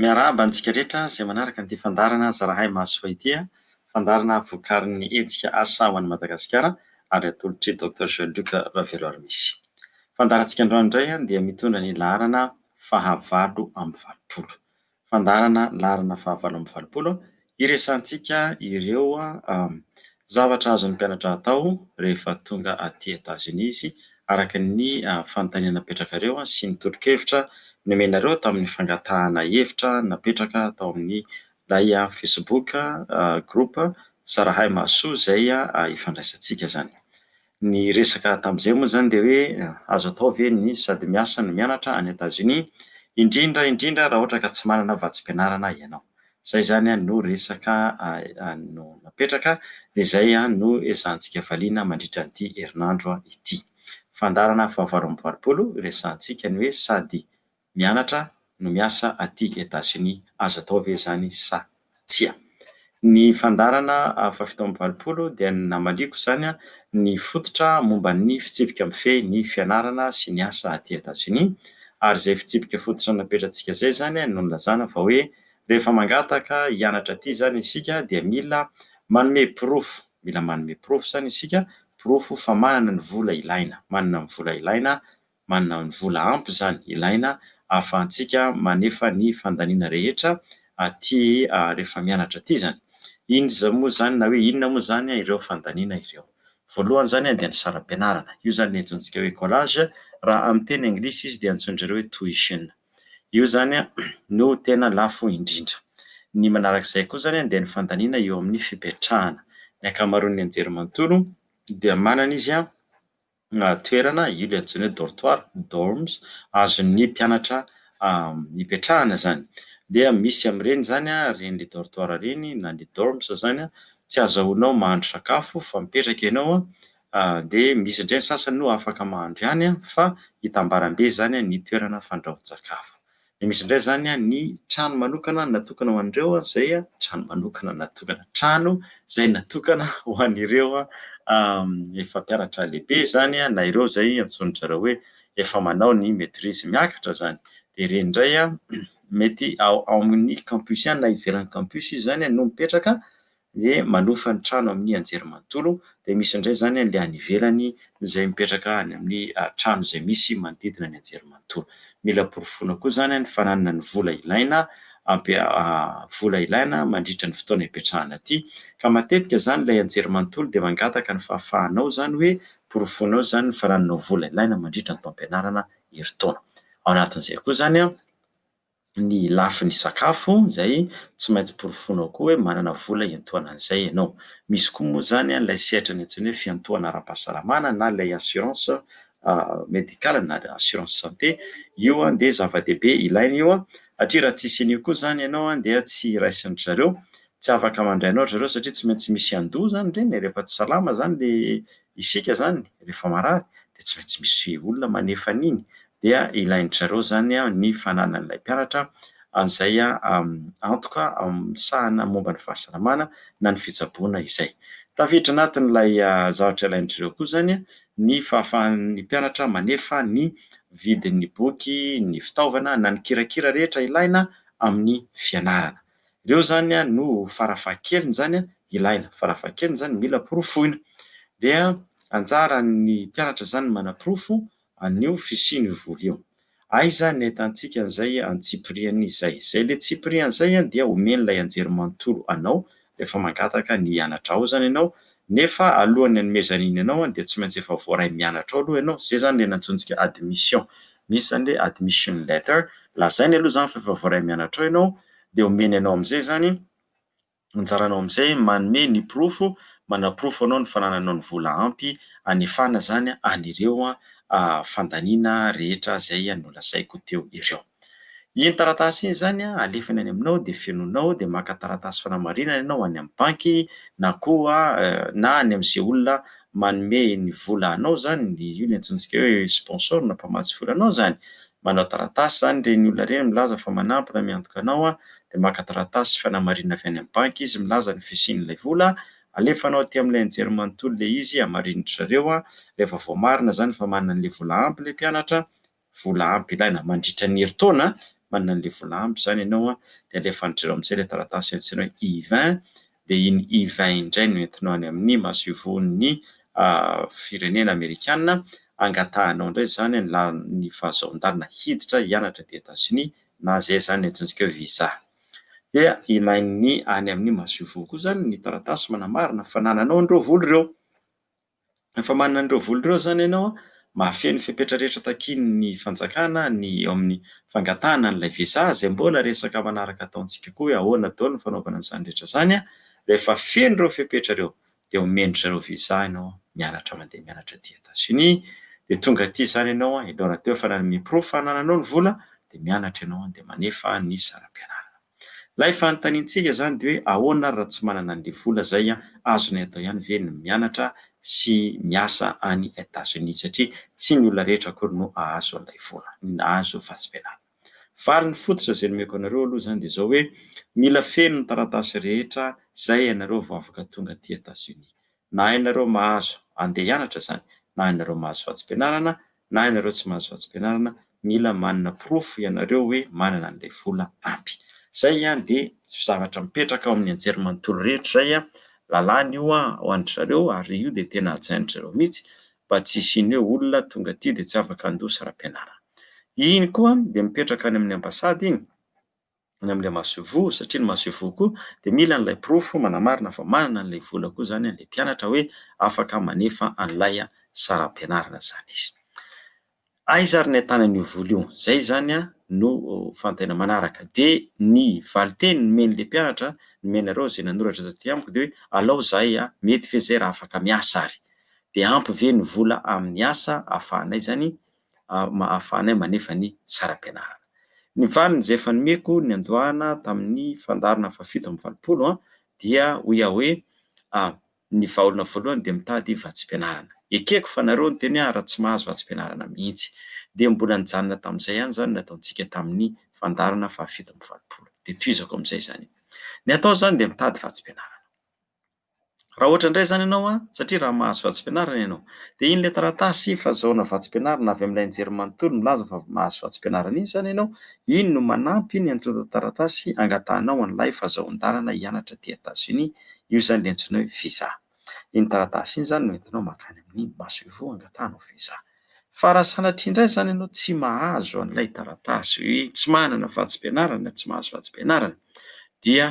Miarahaba antsika rehetra izay manaraka ity fandaharana Zarahay Mahasoa ity. Fandaharana vokarin'ny hetsika Asa ho an'i Madagasikara ary atolotr'i Docteur Jean Luc Raveloarimisy. Fandaharantsika androany indray dia mitondra ny laharana faha valo amby valopolo. Fandaharana laharana faha valo amby valopolo Hiresahantsika ireo zavatra azon'ny mpianatra atao rehefa tonga aty Etazonia izy, araka ny fanontaniana napetrakareo sy ny tolo-kevitra nomenareo tamin'ny fangatahana hevitra napetraka tao amin'ilay Facebook groupe Sarahay Mahasoa izay ifandraisantsika izany. Ny resaka tamin'izay moa izany dia hoe azo atao ve ny sady miasa no mianatra any Etazonia, indrindra indrindra raha ohatra ka tsy manana vatsim-pianarana ianao. Izay izany no resaka no napetraka dia izay no ezahantsika valiana mandritra an'ity herinandro ity. Fandaharana fahavalo amby valopolo, resahantsika ny hoe sady mianatra no miasa aty Etats-Unis, azo atao ve izany sa tsia? Ny fandaharana faha fito amby valopolo dia ny namaliako izany ny fototra momba ny fitsipika mifehy ny fianarana sy ny asa aty Etats-Unis, ary izay fitsipika fototra napetratsika izay izany no nilazana fa hoe rehefa mangataka hianatra aty izany isika dia mila manome porofo, mila manome porofo izany isika, porofo fa manana ny vola ilaina, manana ny vola ilaina manana ny vola ampy izany ilaina ahafahantsika manefa ny fandaniana rehetra aty rehefa mianatra aty izany. Inza moa izany na hoe inona moa izany ireo fandaniana ireo. Voalohany izany dia ny saram-pianarana. Io izany ilay antsointsika hoe collage, raha amin'ny teny anglisy izy dia antsoin-dry zareo hoe tuition. Io izany no tena lafo indrindra. Ny manaraka izay koa izany dia ny fandaniana eo amin'ny fipetrahana. Ny ankamaroan'ny anjerimanontolo dia manana izy toerana, io ilay antsoina hoe dortoir, dorms, azon'ny mpianatra hipetrahana izany. Dia misy amin'ireny izany ireny le dortoir ireny na le dorms izany an, tsy azahoanao mahandro sakafo fa mipetraka ianao an, dia misy indray ny sasany moa afaka mahandro ihany an, fa hitambarambe izany ny toerana fandrahoan-tsakafo. Dia misy indray izany ny trano manokana natokana ho an'ireo izay, trano manokana natokana, trano izay natokana ho an'ireo efa mpianatra lehibe izany na ireo izay antsoin-dry zareo hoe efa manao ny maitrise miakatra izany. Dia ireny indray mety ao amin'ny campus ihany na ivelan'ny campus izy izany no mipetraka. hoe manofa ny trano amin'ny anjerimanontolo dia misy indray izany an'ilay any ivelany izay mipetraka any amin'ny trano izay misy manodidina ny anjerimanontolo. Mila porofoina koa izany ny fananana ny vola ilaina vola ilaina mandritra ny fotoana ipetrahana aty ka matetika izany ilay anjerimanontolo dia mangataka ny fahafahanao izany hoe porofoinao izany ny fanananao vola ilaina mandritra ny taom-pianarana herintaona. Ao anatin'izay koa izany an! ny lafiny sakafo izay tsy maintsy porofoinao koa hoe manana vola hiantohana an'izay ianao. Misy koa moa izany ilay sehatra ny antsoina hoe fiantohana ara-pahasalamana na ilay assurance médicale na assurance santé, io dia zava-dehibe ilaina io satria raha tsisy an'io koa izany ianao dia tsy raisin-dry zareo, tsy afaka mandray anao ry zareo satria tsy maintsy misy handoa izany ireny e, rehefa tsy salama izany ilay isika izany, rehefa marary dia tsy maintsy misy olona manefa an'iny dia ilain-dry zareo izany ny fananan'ilay mpianatra an'izay antoka misahana momba ny fahasalamana na ny fitsaboana izay. Tafiditra anatin'ilay zavatra ilain-dry zareo koa izany ny fahafahan'ny mpianatra manefa ny vidin'ny boky, ny fitaovana na ny kirakira rehetra ilaina amin'ny fianarana. Ireo izany no fara fahakeliny izany ilaina, fara fahakeliny izany mila porofoina. Dia anjaran'ny mpianatra izany manaporofo an'io fisian'io vola io. Aiza ny ahitantsika an'izay antsipiriany izay? Izay le tsipiriany izay dia omen'ilay anjerimanontolo anao rehefa mangataka ny hianatra ao izany ianao, nefa alohan'ny hanomezany iny anao dia tsy maintsy efa voaray mianatra ao aloha ianao, izay izany le nantsointsika admission, misy izany le admission letter, lazainy aloha izany fa efa voaray mianatra ao ianao, dia omeny anao amin'izay izany Anjaranao amin'izay manome ny porofo manaporofo anao ny fanananao ny vola ampy hanefana izany an'ireo fandaniana rehetra izay nolazaiko teo ireo. Iny taratasy iny izany alefany any aminao dia fenoinao dia maka taratasy fanamarinana ianao any amin'ny banky na koa na any amin'izay olona manome ny vola anao izany, io no antsointsika hoe sponsor na mpamatsy vola anao izany. Manao taratasy izany ireny olona ireny milaza fa manampy na miantoka anao dia maka taratasy fanamarinana avy any amin'ny banky izy milaza ny fisian'ilay vola, alefanao aty amin'ilay anjery manontolo ilay izy, hamarinin'dry zareo an, rehefa voamarina izany fa manana an'ilay vola ampy ilay mpianatra, vola ampy ilaina mandritra ny herintaona an, manana an'ilay vola ampy izany ianao an, dia alefan'dry zareo amin'izay ilay taratasy antsoina hoe I-20 dia iny Yvain iny indray no entinao any amin'ny masoivohon'ny firenena amerikana, angatahanao indray izany ny lalan'ny fahazoan-dalana hiditra hianatra aty Etazonia na izay izany antsointsika hoe visa. Dia ilain'ny any amin'ny masoivoho koa izany ny taratasy manamarina fanananao an'ireo vola ireo. Rehefa manana an'ireo vola ireo izany ianao, mahafehy ny fepetra rehetra takian'ny fanjakana ny eo amin'ny fangatahana an'ilay visa, izay mbola resaka manaraka ataontsika koa hoe ahoana daholo ny fanaovana an'izany rehetra izany an! Rehefa feno ireo fepetra ireo dia omen-dry zareo visa ianao mianatra mandeha mianatra aty Etazonia, dia tonga aty izany ianao an, alohan'ny atao hoe fa nanome porofo fa anananao ny vola dia mianatra ianao an, dia manefa ny saram-pianarana. Ilay fanontaniantsika izany dia hoe ahoana ary raha tsy manana an'ilay vola izay an, azonay atao ihany ve ny mianatra sy miasa any Etats-Unis satria tsy ny olona rehetra akory no hahazo an'ilay vola, hahazo fahasibenana. Faly ny fototra izay nomeko anareo aloha izany dia izao hoe mila feno ny taratasy rehetra izay ianareo vao afaka tonga aty Etats-Unis. na ianareo mahazo andeha hianatra izany, na ianareo mahazo vatsim-pianarana, na ianareo tsy mahazo vatsim-pianarana, mila manana porofo ianareo hoe manana an'ilay vola ampy. Izay ihany dia zavatra mipetraka ao amin'ny anjerimanontolo rehetra izay an, lalàna io an ho an-dry zareo ary io dia tena hajain-dry zareo mihitsy mba tsy hisian'ny hoe olona tonga aty dia tsy afaka handoa saram-pianarana. Iny koa dia mipetraka any amin'ny ambasady iny. any amin'ilay masoivoho satria ny masoivoho koa dia mila an'ilay porofo manamarina fa manana an'ilay vola koa izany ilay mpianatra hoe afaka manefa an'ilay saram-pianarana izany izy. Aiza ary ny ahitana an'io vola io? Izay izany no fanontaniana manaraka. Dia ny valinteny nomen'ilay mpianatra, nomenareo izay nanoratra taty amiko dia hoe alao izahay mety ve izay raha afaka miasa ary? Dia ampy ve ny vola amin'ny asa ahafahanay izany ahafahanay manefa ny saram-pianarana. Ny valiny izay efa nomeko niandohana tamin'ny fandaharana fahafito amby valopolo dia hoy aho hoe, ny vahaolana voalohany dia mitady vatsim-pianarana. Ekeko fa nareo no teny hoe ary raha tsy mahazo vatsim-pianarana mihitsy. Dia mbola nijanona tamin'izay ihany izany ny nataontsika tamin'ny fandaharana fahafito amby valopolo. Dia tohizako amin'izay izany. Ny atao izany dia mitady vatsim-pianarana. Raha ohatra indray izany ianao an, satria raha mahazo vatsim-pianarana ianao, dia iny ilay taratasy fahazoana vatsim-pianarana avy amin'ilay nijery manontolo milaza fa mahazo vatsim-pianarana iny izany ianao, iny no manampy ny antontan-taratasy angatahanao an'ilay fahazoan-dalana hianatra aty Etazonia, io izany ilay antsoina hoe visa. Iny taratasy iny izany no entinao mankany amin'ny masoivoho hangatahanao visa. Fa raha sanatria indray izany ianao tsy mahazo an'ilay taratasy hoe tsy manana vatsim-pianarana, tsy mahazo vatsim-pianarana, dia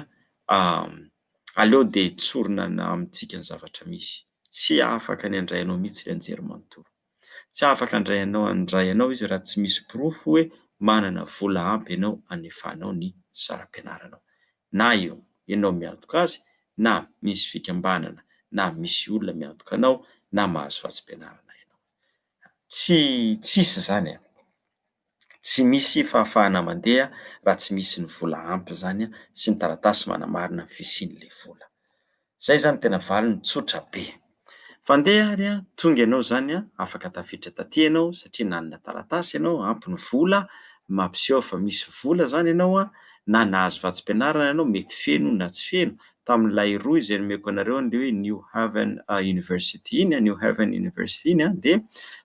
Aleo dia hitsorina ny amintsika ny zavatra misy. Tsy afaka ny handray anao mihitsy ry Anjerimanontolo. Tsy afaka handray anao handray anao izy raha tsy misy porofo hoe manana vola ampy ianao hanefanao ny saram-pianaranao. Na io ianao miantoka azy, na misy fikambanana na misy olona miantoka anao, na mahazo vatsim-pianarana ianao. Tsy tsisy izany an! Tsy misy fahafahana mandeha raha tsy misy ny vola ampy izany sy ny taratasy manamarina ny fisian'ilay vola. Izay izany no tena valiny, tsotra be. Fandeha ary an, tonga ianao izany an, afaka tafiditra taty ianao satria nanana taratasy ianao, ampy ny vola, mampiseho fa misy vola izany ianao an, na nahazo vatsim-pianarana ianao, mety feno na tsy feno, tamin'ilay rohy izay nomeko anareo an'ilay hoe New Haven University iny, New Haven University iny an, dia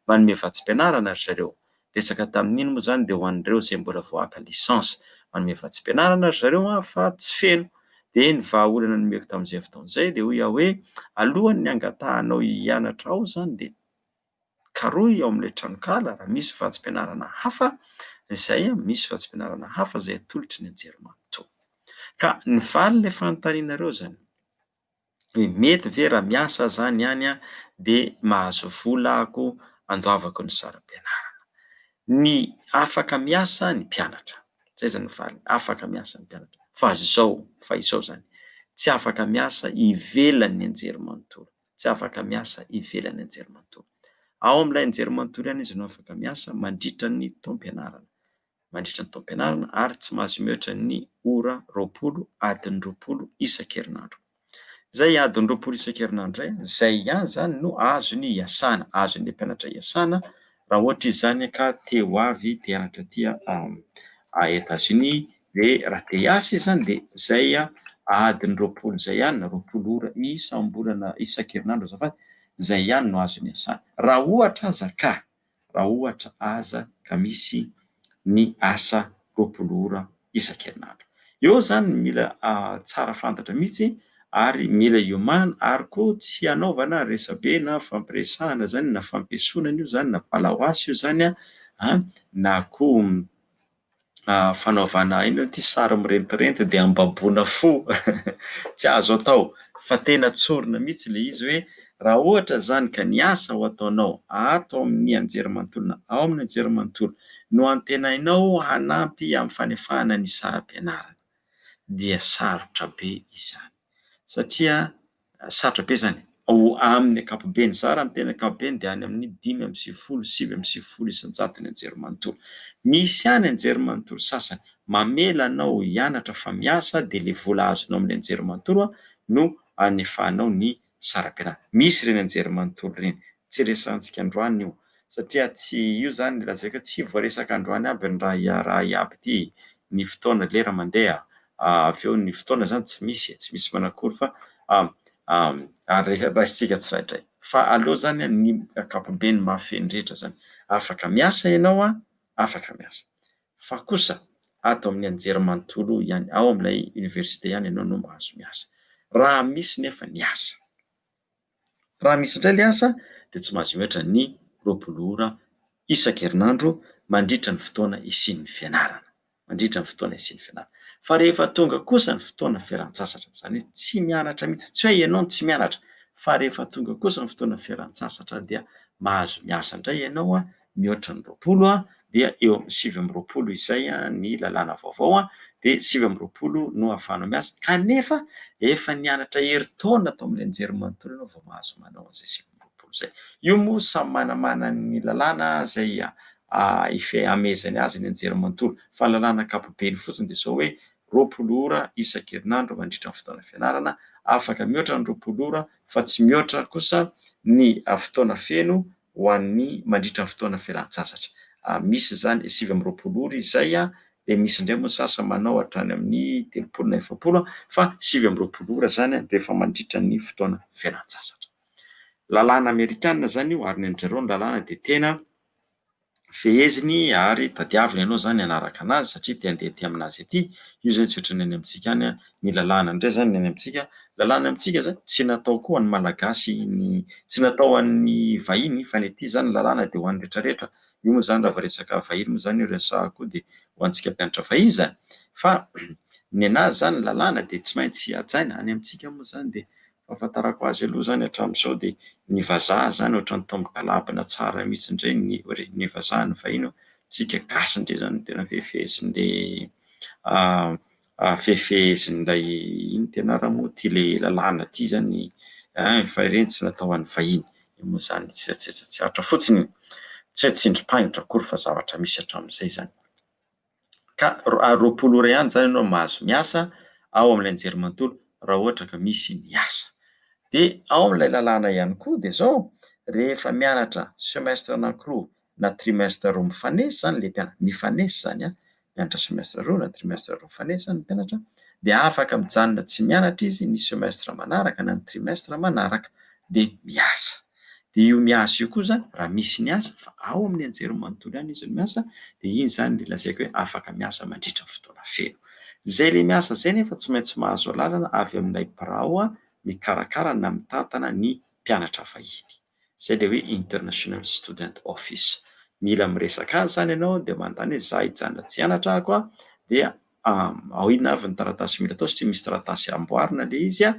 manome vatsim-pianarana ry zareo. resaka tamin'iny moa izany dia ho an'ireo izay mbola vao haka licence. Manome vatsim-pianarana ry zareo an fa tsy feno. Dia ny vahaolana nomeko tamin'izay fotoana izay dia hoy aho hoe alohan'ny hangatahanao hianatra ao izany dia karohy ao amin'ilay tranonkala raha misy vatsim-pianarana hafa izay an, misy vatsim-pianarana hafa izay atolotry ny Anjerimanontolo. Ka ny valin'ilay fanontanianareo izany. hoe mety ve raha miasa aho izany any dia mahazo vola ahako handoavako ny saram-pianarana. Ny afaka miasa ny mpianatra, izay izany no valiny, afaka miasa ny mpianatra, fa izao, fa izao izany, tsy afaka miasa ivelan'ny anjerimanontolo, tsy afaka miasa ivelan'ny anjerimanontolo. Ao amin'ilay anjerimanontolo ihany izy no afaka miasa mandritra ny taom-pianarana. mandritra ny taom-pianarana ary tsy mahazo mihoatra ny ora roapolo adiny roapolo isan-kerinandro. Izay adiny roapolo isan-kerinandro izay, izay ihany izany no azony iasana, azon'ilay mpianatra iasana raha ohatra izy izany ka te ho avy te hianatra aty Etazonia dia raha te hiasa izy izany dia izay adiny roapolo izay ihany na roapolo ora isam-bolana isan-kerinandro azafady, izay ihany no azony iasana. Raha ohatra aza ka raha ohatra aza ka misy ny asa roapolo ora isan-kerinandro. Eo izany mila tsara fantatra mihitsy ary mila iomanana ary koa tsy hanaovana resabe na fampiresahana izany na fampiesonana io izany na balahoasy io izany an, na koa fanaovana aina ity sary mirentirenty dia ambaboana fo tsy azo atao fa tena tsorina mihitsy ilay izy hoe raha ohatra izany ka ny asa ho ataonao ato amin'ny anjerimanontolona ao amin'ny anjerimanontolo no antenainao hanampy amin'ny fanefahana ny saram-pianarana dia sarotra be izany satria Sarotra be izany. Ao amin'ny ankapobeny, zara ny teny ankapobeny dia any amin'ny dimy amby sivifolo, sivy amby sivifolo isan-jato ny anjery manontolo. Misy ihany anjery manontolo sasany mamela anao hianatra fa miasa dia ilay vola azonao amin'ny anjery manontolo no anefahanao ny saram-pianarana. Misy ireny anjery manontolo ireny. Tsy resahantsika androany io satria tsy io izany no lazaiko hoe tsy voaresaka androany aby ny raha iaby ity, ny fotoana, lera mandeha avy eo ny fotoana zany tsy misy e, tsy misy manakory fa ary raisintsika tsirairay fa aleo zany ny ankapobeny mahafehy ny rehetra zany, afaka miasa ianao an, afaka miasa fa kosa ato amin'ny anjerimanontolo ihany ao amin'ilay université ihany ianao no mahazo miasa raha misy nefa ny asa. Raha misy indray ilay asa dia tsy mahazo mihoatra ny roapolo ora isan-kerinandro mandritra ny fotoana isian'ny fianarana, mandritra ny fotoana isian'ny fianarana. Fa rehefa tonga kosa ny fotoana fialan-tsasatra, izany hoe tsy mianatra mihitsy, tsy hoe ianao no tsy mianatra fa rehefa tonga kosa ny fotoana fialan-tsasatra dia mahazo miasa indray ianao mihoatra ny roapolo dia eo amin'ny sivy amby roapolo izay ny lalàna vaovao dia sivy amby roapolo no ahafahanao miasa kanefa efa nianatra herintaona tao amin'ny anjerimanontolo ianao vao mahazo manao an'izay sivy amby roapolo izay. Io moa samy manamana ny lalàna izay hamehezany azy ny anjerimanontolo fa ny lalàna ankapobeny fotsiny dia izao hoe roapolo ora isan-kerinandro mandritra ny fotoana fianarana, afaka mihoatra ny roapolo ora fa tsy mihoatra kosa ny fotoana feno ho an'ny mandritra ny fotoana fialan-tsasatra. Misy izany sivy amby roapolo ora izay, dia misy indray moa ny sasany manao hatrany amin'ny telopolo na efapolo, fa sivy amby roapolo ora izany rehefa mandritra ny fotoana fialan-tsasatra. Lalàna amerikana izany io ary ny an-dry zareo ny lalàna dia tena. feheziny ary tadiavina ianao izany hanaraka an'azy satria te handeha aty amin'azy aty, io izany tsy ohatra ny any amintsika any, ny lalàna indray izany ny any amintsika, lalàna amintsika izany tsy natao koa ho an'ny Malagasy, tsy natao ho an'ny vahiny fa ny aty izany ny lalàna dia ho an'ny rehetrarehetra, io moa izany raha vao resaka vahiny moa izany io resahako io dia ho antsika mpianatra vahiny izany fa ny an'azy izany ny lalàna dia tsy maintsy hajaina, any amintsika moa izany dia Fahafantarako azy aloha izany hatramin'izao dia ny vazaha izany ohatran'ny tao amin'ny galabana tsara mihitsy indray ny hoe ny vazaha ny vahiny fa isika gasy indray izany no tena fehefehezin'ilay fehefehezin'ilay ino ity anarany moa ity ilay lalàna ity izany an! fa ireny tsy natao ho an'ny vahiny, io moa izany tsetsatsetra-tsehatra fotsiny, tsy hoe tsindrim-pahingotra akory fa zavatra misy hatramin'izay izany. ka ary roapolo ora ihany izany ianao mahazo miasa ao amin'ilay anjerimanontolo raha ohatra ka misy ny asa. Dia ao amin'ilay lalàna ihany koa dia izao, rehefa mianatra semestre anankiroa na trimestre roa mifanesy izany ilay mpianatra, mifanesy izany an, mianatra semestre roa na trimestre roa mifanesy izany ny mpianatra dia afaka mijanona tsy mianatra izy ny semestre manaraka na ny trimestre manaraka dia miasa. dia io miasa io koa izany raha misy ny asa fa ao amin'ny anjerimanontolo ihany izy no miasa dia iny izany ilay lazaiko hoe afaka miasa mandritra ny fotoana feno. Izay ilay miasa izay nefa tsy maintsy mahazo alalana avy amin'ilay birao mikarakara na mitantana ny mpianatra vahiny, izay ilay hoe International Student Office. Mila miresaka azy izany ianao dia manontany hoe za hijanona aty hianatra ahako dia inona avy ny taratasy mila atao satria misy taratasy amboarina ilay izy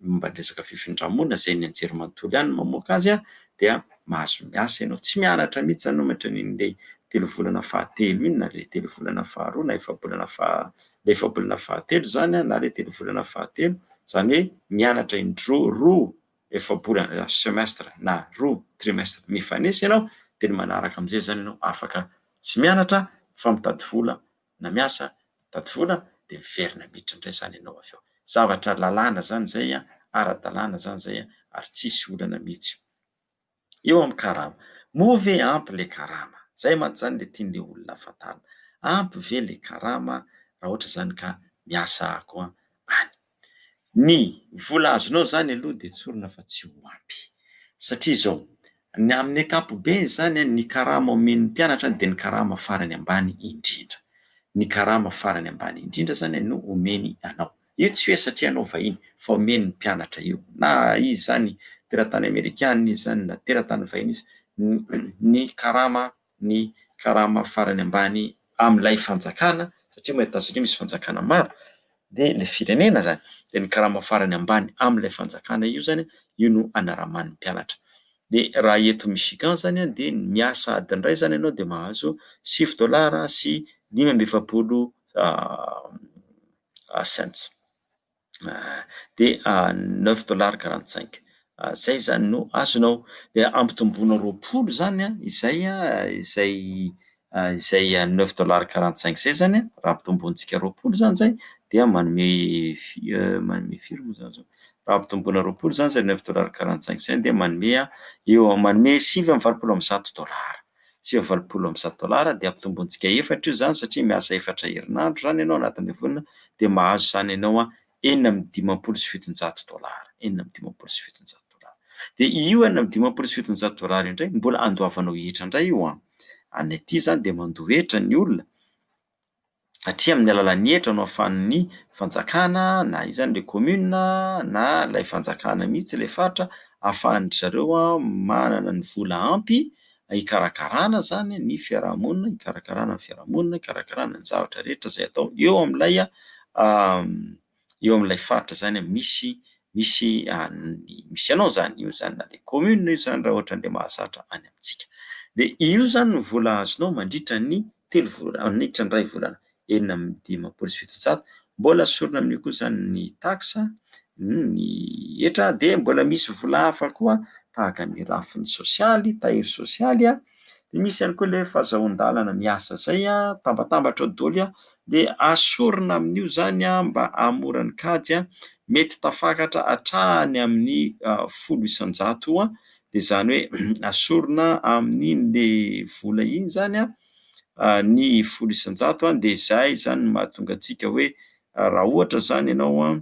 momba ny resaka fifindra-monina izay ny anjerimanontolo ihany no mamoaka azy dia mahazo miasa ianao. Tsy mianatra mihitsy izany ohatra ny an'ilay telovolana fahatelo iny na ilay telovolana faharoa na efabolana faha ilay efabolana fahatelo izany na ilay telovolana fahatelo, izany hoe mianatra indroa roa efabolana semestre na roa trimestre mifanesy ianao dia ny manaraka amin'izay izany ianao afaka tsy mianatra fa mitady vola na miasa mitady vola dia miverina miditra indray izany ianao avy eo. Zavatra lalàna izany izay, ara-dalàna izany izay ary tsisy olana mihitsy eo amin'ny karama. Moa ve ampy ilay karama? Izay mantsy izany ilay tian'ilay olona hahafantarana. Ampy ve ilay karama raha ohatra izany ka miasa aho koa any? Ny vola azonao izany aloha dia tsorina fa tsy ho ampy, satria izao, ny amin'ny ankapobeny izany a, ny karama omen'ny mpianatra dia ny karama farany ambany indrindra, ny karama farany ambany indrindra izany no omeny anao, io tsy hoe satria ianao vahiny fa omeny ny mpianatra io, na izy izany teratany amerikana izy izany na teratany vahiny izy, ny karama. ny karama farany ambany amin'ilay fanjakana, satria moa eto Tanzania misy fanjakana maro, dia ilay firenena izany, dia ny karama farany ambany amin'ilay fanjakana io izany, io no anaraman'ny mpianatra. Dia raha eto Michigan izany an, dia ny miasa adiny iray izany ianao dia mahazo sivy dolara sy dimy amby efapolo cents. dia neuf dollars quarante cinq, izay izany no azonao, dia ampitomboina roapolo izany an, izay izay izay neuf dollars quarante cinq izay izany an, raha ampitombointsika roapolo izany izay dia manome fi- manome firy moa izany izao, raha ampitomboina roapolo izany izay neuf dollars quarante cinq izay dia manome eo am- manome sivy amby valopolo amby zato dollars. sivy amby valopolo amby zato dolara dia ampitombointsika efatra io izany satria miasa efatra herinandro izany ianao anatin'ilay volana dia mahazo izany ianao an enina amby dimampolo sy fitonjato dolara enina amby dimampolo sy fitonjato dolara dia io enina amby dimampolo sy fitonjato dolara io indray mbola andoavanao hetra indray io an any aty izany dia mandoa hetra ny olona satria amin'ny alalan'ny hetra no ahafahan'ny fanjakana na izany ilay commune na ilay fanjakana mihitsy ilay faritra ahafahan-dry zareo manana ny vola ampy hikarakarana izany ny fiarahamonina, hikarakarana ny fiarahamonina, hikarakarana ny zavatra rehetra izay atao eo amin'ilay eo amin'ilay faritra izany misy misy an'ny misy anao izany, io izany na dia commune io izany raha ohatra an'ilay mahazatra any amintsika. Dia io izany no vola azonao mandritra ny telo volana, mandritra ny iray volana, enina amby dimampolo sy fitonjato. Mbola sorona amin'io koa izany ny taxe, ny hetra, dia mbola misy vola hafa koa tahaka ny lafiny sosialy, tahiry sosialy. dia misy ihany koa ilay fahazahoan-dalana miasa izay tambatambatra ao doly dia asorina amin'io izany mba hahamora ny kajy mety tafakaratra hatrany amin'ny folo isan-jato dia izany hoe asorina amin'ilay vola iny izany ny folo isan-jato dia izay izany no mahatonga antsika hoe raha ohatra izany ianao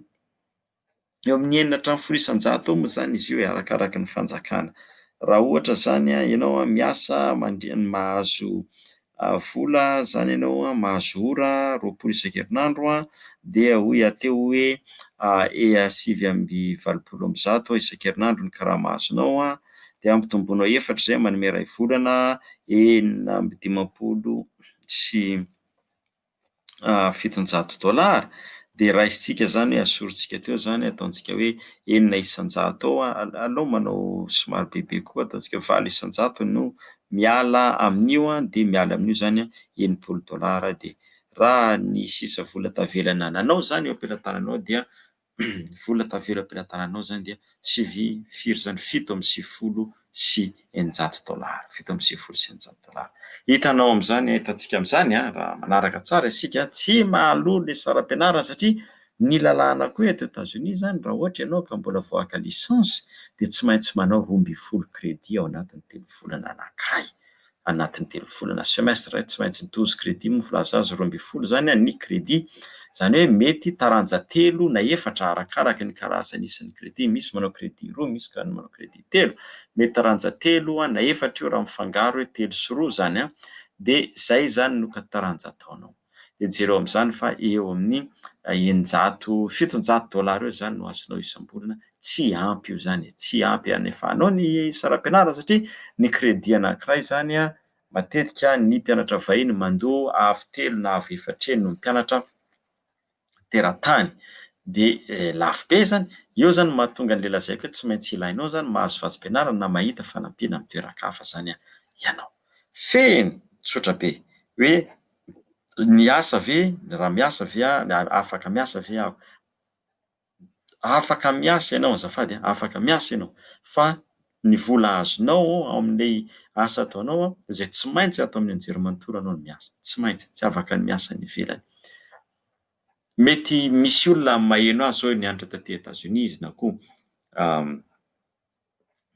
Eo amin'ny enina hatramin'ny folo isan-jato eo moa izany izy io e, arakaraka ny fanjakana. Raha ohatra izany ianao miasa mandria- mahazo vola izany ianao, mahazo ora roapolo isan-kerinandro, dia hoy aho teo hoe e- sivy amby valopolo amby zato isan-kerinandro ny karama azonao an, dia ampitomboinao efatra izay manome iray volana, enina amby dimampolo sy fitonjato dollars dia raisintsika izany hoe asorintsika teo izany ataontsika hoe enina isanjato eo an, aleo manao somary bebe koa ataontsika hoe valo isanjato no miala amin'io an, dia miala amin'io izany an enimpolo dollars dia raha ny sisa vola tavela nananao izany eo am-pelatananao dia ny vola tavela am-pelatananao izany dia sivy, firy izany, fito amby sivifolo sy eninjato dollars, fito amby sivifolo sy eninjato dollars. Hitanao amin'izany, hitantsika amin'izany raha manaraka tsara isika, tsy mahaloa ilay saram-pianarana satria ny lalàna koa eto Etazonia izany raha ohatra ianao ka mbola vao haka licence dia tsy maintsy manao roa ambin'ny folo crédits ao anatin'ny telo volana anankiray. anatin'ny telo volana, semestre, tsy maintsy douze crédits moa filaza azy roa ambin'ny folo izany ny crédit, izany hoe mety taranja telo na efatra arakaraka ny karazany isan'ny crédit, misy manao crédit roa, misy koa manao crédit telo, mety taranja telo na efatra io raha mifangaro hoe telo sy roa izany an, dia izay izany no taranja ataonao. dia jereo amin'izany fa eo amin'ny eninjato, fitonjato dollars eo izany no azonao isam-bolana, tsy ampy io izany e, tsy ampy hanefanao ny saram-pianarana satria ny crédit anankiray izany matetika ny mpianatra vahiny mandoa avo telo na avo efatr'heny no mpianatra, teratany dia lafo be zany, eo zany mahatonga anle lazaiko hoe tsy maintsy ilainao zany mahazo vatsim-pianarana na mahita fanampiana amin'ny toeran-kafa zany ianao. Fehiny, tsotra be, hoe ny asa ve, raha miasa ve aho, afaka miasa ve aho. afaka miasa ianao azafady a, afaka miasa ianao fa ny vola azonao ao amin'ilay asa ataonao izay tsy maintsy ato amin'ny anjerimanontolo ianao no miasa, tsy maintsy, tsy afaka ny miasa any ivelany. Mety misy olona maheno azy izao, nianatra taty Etats-Unis izy na koa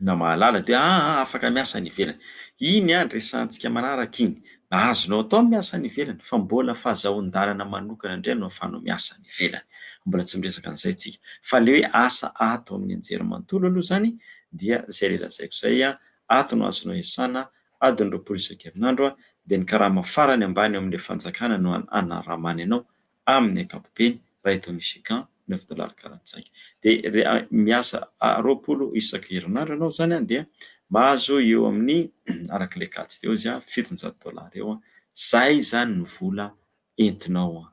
na mahalala dia aa afaka miasa any ivelany. Iny an resahantsika manaraka iny. Azonao atao ny miasa any ivelany fa mbola fazahoan-dalana manokana indray no afahanao miasa any ivelany. Mbola tsy miresaka an'izay tsika. Fa le hoe asa ato amin'ny anjerimanontolo aloha zany dia zay le lazaiko zay an, ato no azonao iasana adiny roapolo isan-kerinandro dia ny karama farany ambany eo amin'ny fanjakana no an anaramany anao amin'ny ankapobeny iray taon'ny chèque neuf dollars karantsaika dia re- miasa roapolo isaka herinandro ianao izany an dia mahazo eo amin'ny araka ilay kajy teo izy an fitonjato dollars eo an izay izany no vola entinao an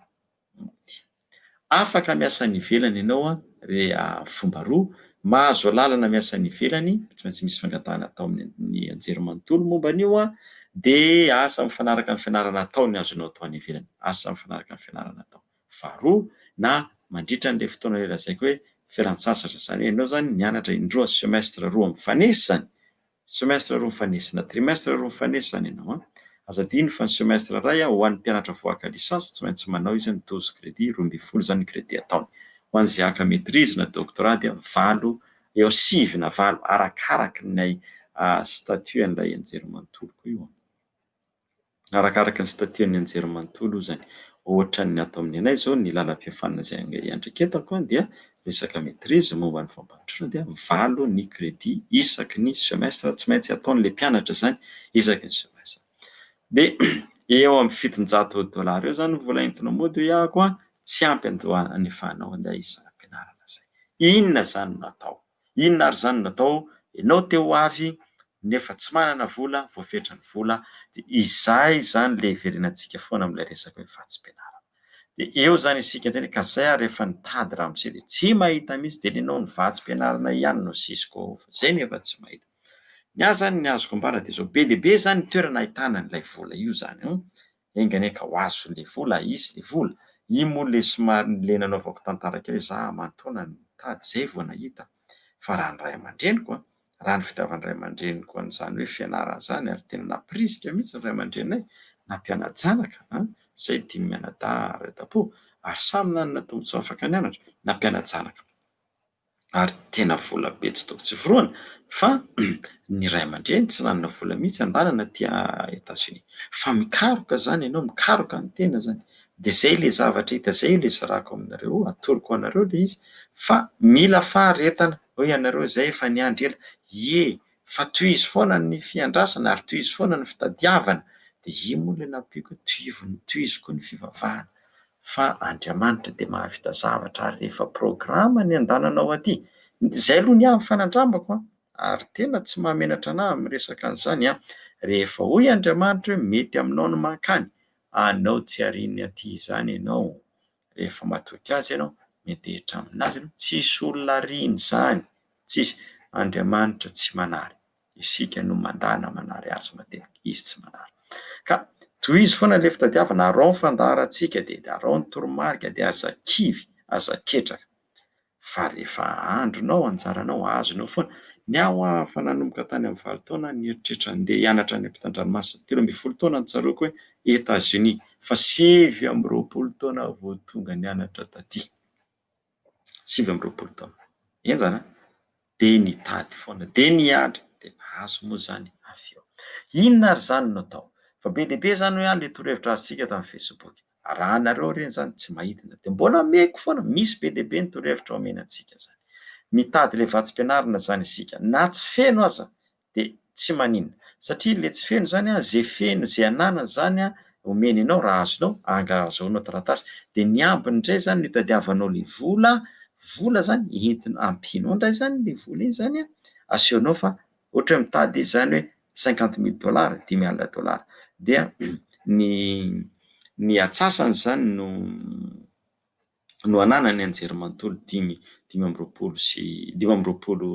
afaka miasa any ivelany ianao an Re a Fomba roa, Mahazo alalana miasa any ivelany, tsy maintsy misy fangatahana atao amin'ny anjerimanontolo momba an'io an, dia asa mifanaraka amin'ny fianarana atao ny azonao atao any ivelany, asa mifanaraka amin'ny fianarana atao faharoa na mandritra an'ilay fotoana ilay lazaiko hoe fialantsasatra, izany hoe ianao izany nianatra indroa semestre roa mifanesy izany Semestre roa mifanesy na trimestre roa mifanesy izany ianao an! Aza adino fa ny semestre iray an, ho an'ny mpianatra voahaka licence tsy maintsy manao izy ny douze crédits, roa ambin'ny folo izany ny crédit ataony. Ho an'izay haka maitrise na doctorat dia valo, eo sivy na valo arakaraky ny statut an'ilay anjerimanontolo koa io an! Arakaraka ny statian'ny anjerimanontolo hoy izany. Ohatra ny ato amin'ny anay izao ny lalam-pihafanana izay iandraiketako dia resaka maitrise momba ny fampandrosoana dia valo ny crédit isaky ny semestre tsy maintsy ataon'ilay mpianatra izany isaky ny semestre. Dia eo amin'ny fitonjato dollars eo izany ny vola entina mody hoy aho koa tsy ampy andoha anefahana an'ilay isam-pianarana izay. Inona izany no atao? Inona ary izany natao? Ianao te ho avy nefa tsy manana vola, voafetra ny vola, dia izay izany ilay hiverenantsika foana amin'ilay resaka hoe vatsim-pianarana. Dia eo izany isika indray, ka izay ary efa nitady ramose dia tsy mahita mihitsy, dia nenao ny vatsim-pianarana ihany no asisiko ao fa izay no efa tsy mahita. Ny ahy izany ny azoko ambara dia izao, be dia be izany ny toerana ahitana an'ilay vola io izany an! Enga anie ka ho azo le vola, hisy le vola. Iny moa le somary le nanaovako tantara kely za amantaona nitady zay vao nahita fa raha ny ray aman-dreniko an, raha ny fitiavan'ny ray aman-dreniko an'izany hoe fianarana zany ary tena nampirisika mihitsy ny ray aman-dreninay nampiana-janaka an, zahay dimy mianadahy ray dabo ary samy nanana tombotsoa afaka nianatra, nampiana-janaka. ary tena vola be tsy toko tsy forohana fa ny ray aman-dreny tsy nanana vola mihitsy handalana aty Etazonia. Fa mikaroka izany ianao, mikaroka ny tena izany. Dia izay ilay zavatra hita, izay io ilay zaraiko aminareo, atoroko anareo ilay izy fa mila faharetana. Hoy ianareo hoe izay efa niandry ela. Ie, fa tohizo foana ny fiandrasana ary tohizo foana ny fitadiavana dia io moa ilay nampiako hoe tohizo koa ny fivavahana fa Andriamanitra dia mahavita zavatra ary rehefa programa ny andananao aty izay aloha ny ahy ny fanandramako an! ary tena tsy mahamenatra anah amin'ny resaka an'izany an! rehefa hoy Andriamanitra hoe mety aminao ny mankany anao tsy ariany aty izany ianao rehefa matoky azy ianao, miantehitra amin'azy ianao, tsisy olona ariany izany, tsisy, Andriamanitra tsy manary, isika no mandana manary azy matetika, izy tsy manary, ka tohizo foana ilay fitadiavana, araho ny fandaharantsika, dia araho ny toromarika, dia aza kivy, aza ketraka, fa rehefa andronao ao anjaranao azonao foana, ny ahy hoa efa nanomboka tany amin'ny valo taona ny eritreritra andeha hianatra any ampitandranomasina, telo ambin'ny folo taona no tsaroako hoe Etats Unis fa sivy amby roapolo taona aho vao tonga nianatra taty, sivy amby roapolo taona, henjana an! dia nitady foana, dia niandry, dia nahazo moa izany avy eo. Inona ary izany no atao? Fa be dia be izany hoe ilay torohevitra azontsika ato amin'ny Facebook. Arahanareo ireny izany, tsy mahitana. Dia mbola omeko foana, misy be dia be ny torohevitra omena antsika izany. Mitady ilay vatsim-pianarana izany isika, na tsy feno aza, de tsy manina satria le tsy feno zany an ze feno ze ananany zany an omeny anao raha azonao anga azahoanao taratasy de ny ambiny ndray zany no itadiavanao le vola vola zany entina ampianao ndray zany le vola iny zany an asehonao fa ohatra hoe mitady izy zany hoe cinquante mille dollars dimy alina dollars dia ny ny atsasany zany no no ananany anjerimanontolo dimy dimy amby roapolo sy dimy amby roapolo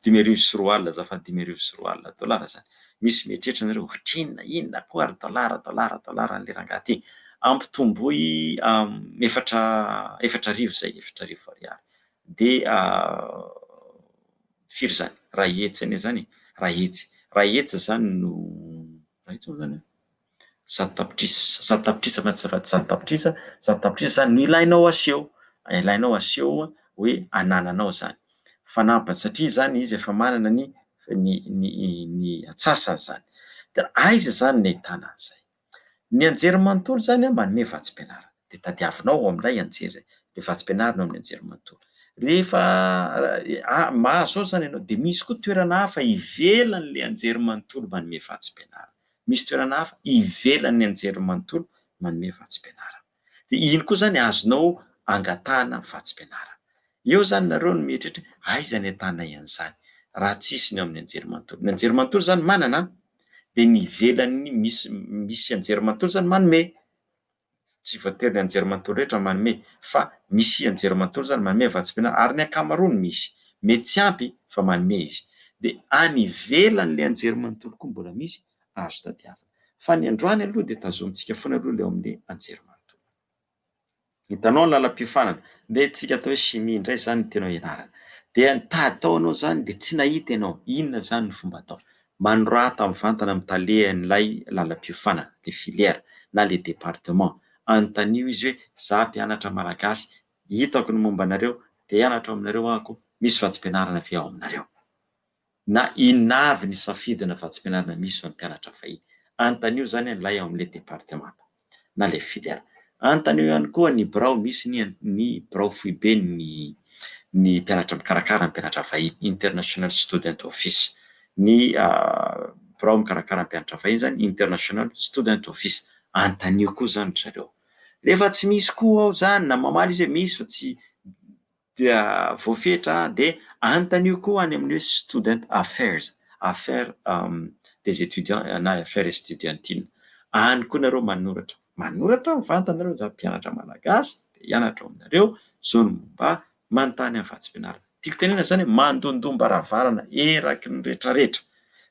dimy arivo sy roa alina azafady dimy arivo sy roa alina dolara zany misy mieritreritra anareo ohatrinona inona koa ary dolara dolara dolara an'le rangahy ty ampitomboy efatra efatra arivo zay efatra arivo ariary de firy zany raha hetsy anie zany raha hetsy raha hetsy zany no raha hetsy moa zany Zato tapitrisa, zato tapitrisa fa tsy efa zato tapitrisa, zato tapitrisa zany no ilainao aseho, ilainao aseho hoe anananao izany. Fanampiny satria izany izy efa manana ny ny ny ny antsasany izany. Dia aiza izany no ahitana an'izay? Ny anjerimanontolo izany a manome vatsim-pianarana. Dia tadiavinao ao amin'ilay anjeri- ilay vatsim-pianarana ao amin'ny anjerimanontolo. Rehefa a- mahazo ao izany ianao dia misy koa toerana hafa ivelan'ilay anjerimanontolo manome vatsim-pianarana. misy toerana hafa ivelan'ny anjerimanontolo manome vatsim-pianarana. Dia iny koa izany azonao angatahana vatsim-pianarana. Eo izany nareo no mieritreritra hoe aiza ny ahitanay an'izany raha tsy hisy ny ao amin'ny anjerimanontolo. Ny anjerimanontolo izany manana an! Dia ny ivelan'ny misy misy anjerimanontolo izany manome. Tsy voatery ny anjerimanontolo rehetra no manome, fa misy anjerimanontolo izany manome vatsim-pianarana, ary ny ankamaroany misy. Mety tsy ampy, fa manome izy. Dia any ivelan'ilay anjerimanontolo koa mbola misy azo tadiavina. Fa ny androany aloha dia tazomintsika foana aloha ilay ao amin'ny anjerimanontolo. Hitanao ny lalam-piofanana. Dia antsika atao hoe chimie indray izany no tianao hianarana. Dia nitady tao ianao izany, dia tsy nahita ianao. Inona izany no fomba atao? Manorata mivantana amin'ny talehan'ilay lalam-piofanana, ilay filière na ilay département. Anontanio izy hoe, Izaho mpianatra malagasy, hitako ny momba anareo, te hianatra ao aminareo aho koa, misy vatsim-pianarana ve ao aminareo? na Inona avy ny safidina vatsim-pianarana misy ho an'ny mpianatra vahiny? Anontanio izany an'ilay ao amin'ilay departemanta. na ilay filialy. Anontanio ihany koa ny birao misy ny ny birao foiben'ny ny mpianatra mikarakara ny mpianatra vahiny, International Student Office. Ny birao mikarakara ny mpianatra vahiny izany International Student Office. Anontanio koa izany ry zareo. Rehefa tsy misy koa ao izany na mamaly izy hoe misy fa tsy dia voafetra dia anontanio koa any amin'ny hoe student affairs, affaires des étudiants na affaires estudiantines, any koa nareo manoratra, manoratra mivantana nareo za mpianatra malagasy te hianatra ao aminareo zao ny momba manontany any vatsim-pianarana, tiako tenenana zany hoe mandondom-baravarana eraky ny retraretra,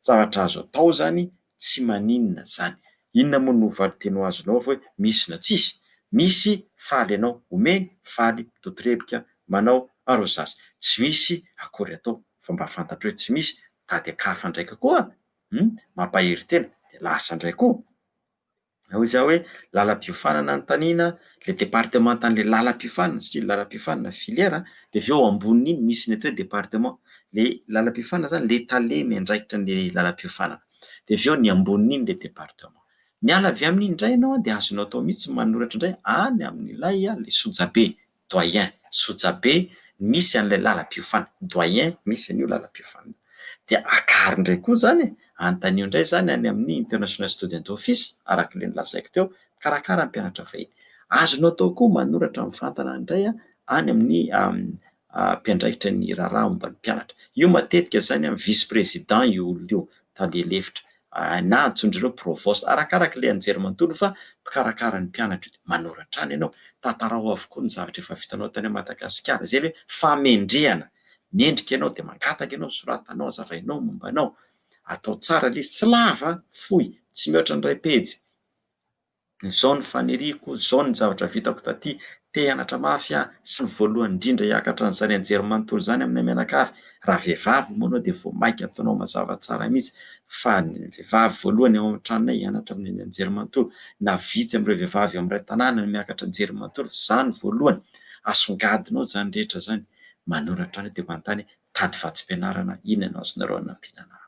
zavatra azo atao zany. Tsy maninona izany. Inona moa no valinteny ho azonao avy hoe misy na tsisy? Misy faly ianao omeny, faly, mitotorebika, manao, arrosage. Tsy misy akory atao fa mba fantatro hoe tsy misy, tadiakafan-draika koa, hum, mampahery tena, dia lasa indray koa. Na hoy za hoe lalam-piofanana anontaniana le departemantan'le lalam-piofanana satria ny lalam-piofanana filière a, de avy eo ambonin'iny misy ny atao hoe département, le lalam-piofanana zany le tale miandraikitra an'le lalam-piofanana, de avy eo ny ambonin'iny le département. Miala avy amin'iny ndray ianao a de azonao atao mihitsy ny manoratra ndray any amin'ilay a le sojabe, Doyen, Sojabe misy an'ilay lalam-piofana, Doyen, misy an'io lalam-piofana. Dia akariny indray koa izany e! Anontanio indray izany any amin'ny International Student Office, araka ilay nolazaiko teo, mpikarakara ny mpianatra vahiny. Azonao atao koa manoratra mivantana indray any amin'ny mpiandraikitra ny raharaha momba ny mpianatra. Io matetika izany vice-président io olona io, tale lefitra. Aah na antsoin-dry ireo provost arakaraka ilay anjery manontolo fa mpikarakara ny mpianatra io dia manoratra any ianao, tantarao avokoa ny zavatra efa vitanao tany Madagasikara, izay hoe famendrehana, mendrika ianao dia mangataka ianao, soratanao, azavainao momba anao, atao tsara lesy, tsy lava an, fohy, tsy mihoatra ny iray pejy. Izao ny faniriako, izao ny zavatra vitako taty, te hianatra mafy aho, sy ny voalohany indrindra hiakatra an'izany anjery manontolo izany aminay mianakavy, raha vehivavy moa ianao dia vao mainka ataonao mazava tsara mihitsy fa ny vehivavy voalohany ao amin'ny tranonay hianatra amin'ny anjery manontolo, na vitsy amin'ireo vehivavy ao amin'ny iray tanàna no miakatra anjery manontolo fa za no voalohany, asongadinao izany rehetra izany, manoratra anay dia manontany hoe, tady vatsim-pianarana inona no azonareo hanampiana anako?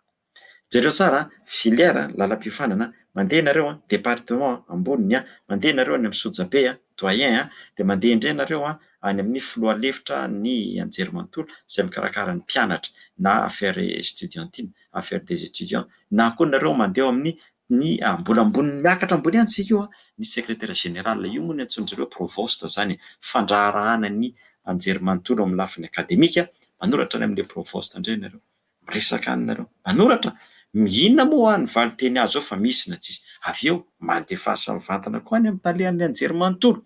Jereo tsara an, filière, lalam-piofanana, mandeha ianareo an, département, amboniny an, mandeha ianareo any amin'ny sojabe an, doyen an, dia mandeha indray ianareo an, any amin'ny filoha lefitra ny anjerimanontolo izay mikarakara ny mpianatra na affaires estudiantines, affaires des étudiants, na koa nareo mandeha eo amin'ny ny mbola ambony miakatra ambony any isika io an, ny secrétaire général, io moa no antsoin-dry zareo provost izany e, fandraharahana ny anjerimanontolo amin'ny lafiny akademika, manoratra any amin'ilay provost indray ianareo. Miresaka any nareo. Manoratra, inona moa hoa ny valinteny azo ao fa misy na tsisy. Avy eo, mandefasa mivantana koa any amin'ny talehan'ny anjerimanontolo.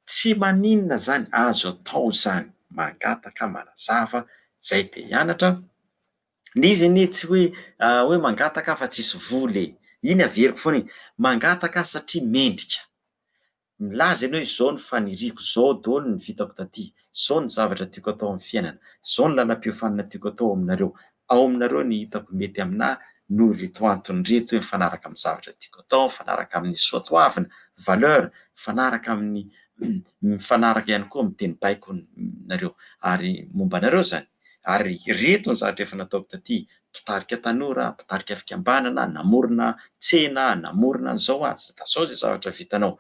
Tsy maninona izany, azo atao izany. Mangataka, manazava, izay dia hianatra. Ilay izy anie tsy hoe hoe mangataka aho fa tsisy vola e. Iny averiko foana iny. Mangataka aho satria mendrika. Milaza ianao hoe izao ny faniriako, izao daholo ny vitako taty, izao ny zavatra tiako atao amin'ny fiainana, izao ny lalam-piofanana tiako atao aminareo, ao aminareo ny hitako mety aminà noho ireto antony ireto hoe mifanaraka amin'ny zavatra tiako atao, mifanaraka amin'ny soatoavina, valeur, mifanaraka amin'ny mifanaraka ihany koa amin'ny teny baiko nareo ary momba anareo izany. ary ireto ny zavatra efa nataoko taty, mpitarika tanora, mpitarika fikambanana, namorona tsena, namorona an'izao aho, ka izao izay zavatra vitanao,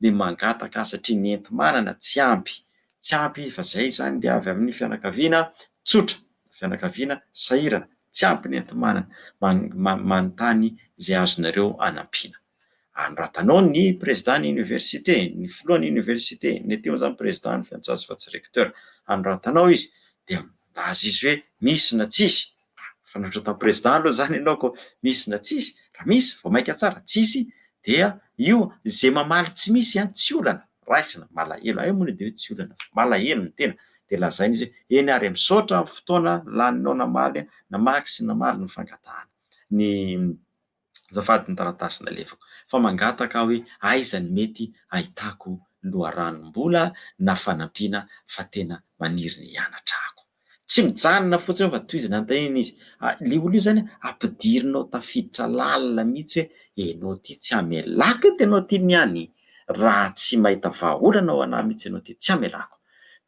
dia mangataka satria ny enti-manana tsy ampy, tsy ampy fa izay izany dia avy amin'ny fianakaviana tsotra, fianakaviana sahirana, tsy ampy ny enti-manana, manontany izay azonareo anampiana. Anoratanao ny Prezidàn'ny Oniversite, ny Filohan'ny Oniversite, ny ety amin'izany Prezidà, ny Fiantsasy fa tsy Rekteur. Anoratanao izy dia milaza izy hoe misy na tsisy. Fanoratana Prezidà aloha izany ianao koa misy na tsisy. Raha misy, vao mainka tsara. Tsisy dia io izay mamaly tsy misy tsy olana. Raisina, malahelo. Hay moana dia hoe tsy olana fa malahelo ny tena. Dia lazaina izy hoe eny ary e, misaotra amin'ny fotoana laninao namaly, namaky sy namaly ny fangatahana. Ny. azafady ny taratasy nalefako fa mangataka aho hoe aiza ny mety ahitako loharanom-bola na fanampiana fa tena maniry ny hianatra ako. Tsy mijanona fotsiny fa tohizana ny tenany izy. Ilay olona io izany ampidirinao tafiditra lalina mihitsy hoe ianao ity tsy hamelako eto ianao ity ny any raha tsy mahita vahaolana ho anà mihitsy ianao ity tsy hamelako.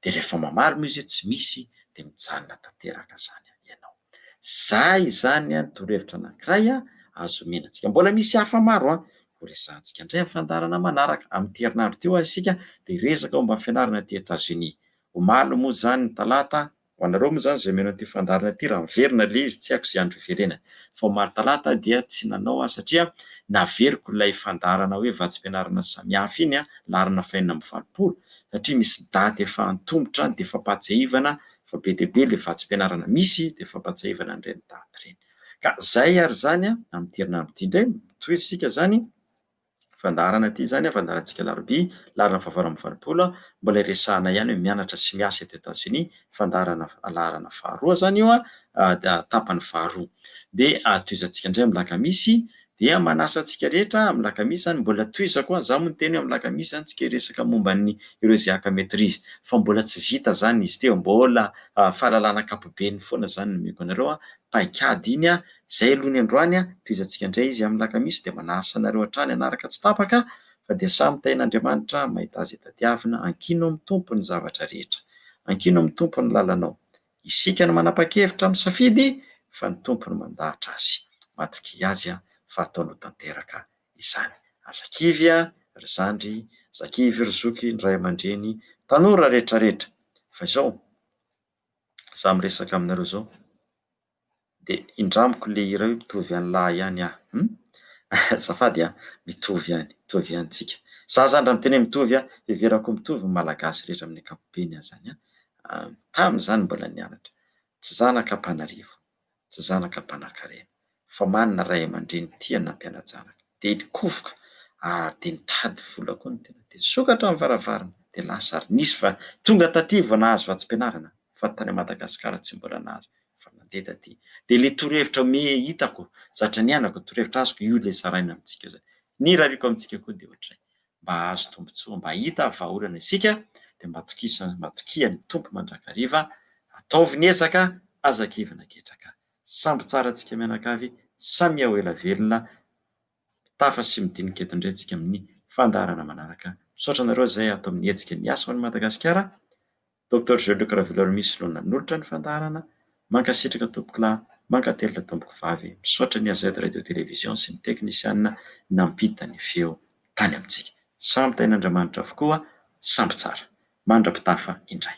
Dia rehefa mamaly moa izy hoe tsy misy dia mijanona tanteraka izany ianao. Za izany an torohevitra anankiray an azo omena antsika. Mbola misy hafa maro an ho resahantsika indray amin'ny fandaharana manaraka. Amin'ity herinandro ity ho'a isika dia hiresaka momba ny fianarana aty Etats-Unis. Omaly moa izany ny talata, ho anareo moa izany izay mino an'ity fandaharana ity raha miverina ilay izy tsy haiko izay andro hiverenany fa omaly talata dia tsy nanao aho satria naveriko ilay fandaharana hoe vatsim-pianarana samihafa iny an laharana fahenina amby valopolo satria misy daty efa antomotra dia fampahatsiahivana fa be dia be ilay vatsim-pianarana misy dia fampantsiahivana an'ireny daty ireny. Ka izay ary izany amin'ity herinandro ity indray, mitohy isika izany fandaharana ity izany, fandaharantsika alarobia, laharana fahavalo amby valopolo, mbola iresahana ihany hoe mianatra sy miasa eto Etats-Unis, fandaharana laharana faharoa izany io, tapany faharoa. Dia tohizantsika indray amin'ny lakamisy, Dia manasa antsika rehetra amin'ny lakamisy zany, mbola tohizako a, za moa niteny hoe amin'ny lakamisy zany tsika hiresaka momba ny ireo izay haka maitrise, fa mbola tsy vita zany izy ity, mbola fahalalana ankapobeny foana zany no omeko anareo a, paikady iny a, zay aloha ny androany a, tohizantsika indray izy amin'ny lakamisy, dia manasa anareo hatrany hanaraka tsy tapaka, fa dia samy hitahian'Andriamanitra mahita azy hitadiavina, ankino amin'ny Tompo ny zavatra rehetra, ankino amin'ny Tompo ny lalanao, Isika no manapa-kevitra misafidy fa ny Tompo no mandahatra azy. Matokia Azy fa ataony ho tanteraka izany. Aza kivy ry zandry, aza kivy ry zoky, ny ray aman-dreny, tanora rehetra rehetra. Fa izao, za miresaka aminareo izao. Dia indramiko le hira io mitovy an'i lahy ihany ah hum azafady ah mitovy ihany mitovy ihany tsika za zany raha miteny hoe mitovy ah heverako mitovy ny malagasy rehetra amin'ny ankapobeny ah zany ah tamin'ny za mbola nianatra tsy zanaka ampanarivo tsy zanaka mpanakarena fa manana ray aman-dreny tia ny nampiana-janaka dia nikofoka ary dia nitady vola koa ny tena dia nisokatra ny varavarana dia lasa ary nisy fa tonga taty vao nahazo vatsim-pianarana ah fa tany Madagasikara tsy mbola nary fa nandeha taty dia ilay torohevitra ome hitako zatra nianako torohevitra azoko io ilay zaraina amintsika zay ny irariako amintsika koa dia ohatray mba azo tombontsoa mba hita vahaolana isika dia mba tokisa mba tokian'ny tompo mandrakariva ataovy ny ezaka aza kivina ketraka samby tsara antsika mianakavy samia ho ela velona tafa sy midinika eto indray antsika amin'ny fandaharana manaraka misaotra anareo izay ato amin'ny hetsika ny asa ho an'i Madagasikara Doctor Jelock Ravelorimiss no nanolotra ny fandaharana, mankasitraka tompokolahy, mankatelina tompokovavy, misaotra ny AZ Radio Télévision sy ny teknisianina nampita ny feo tany amintsika. Samy tain'Andriamanitra avokoa, samby tsara. Mandra-pitafa indray.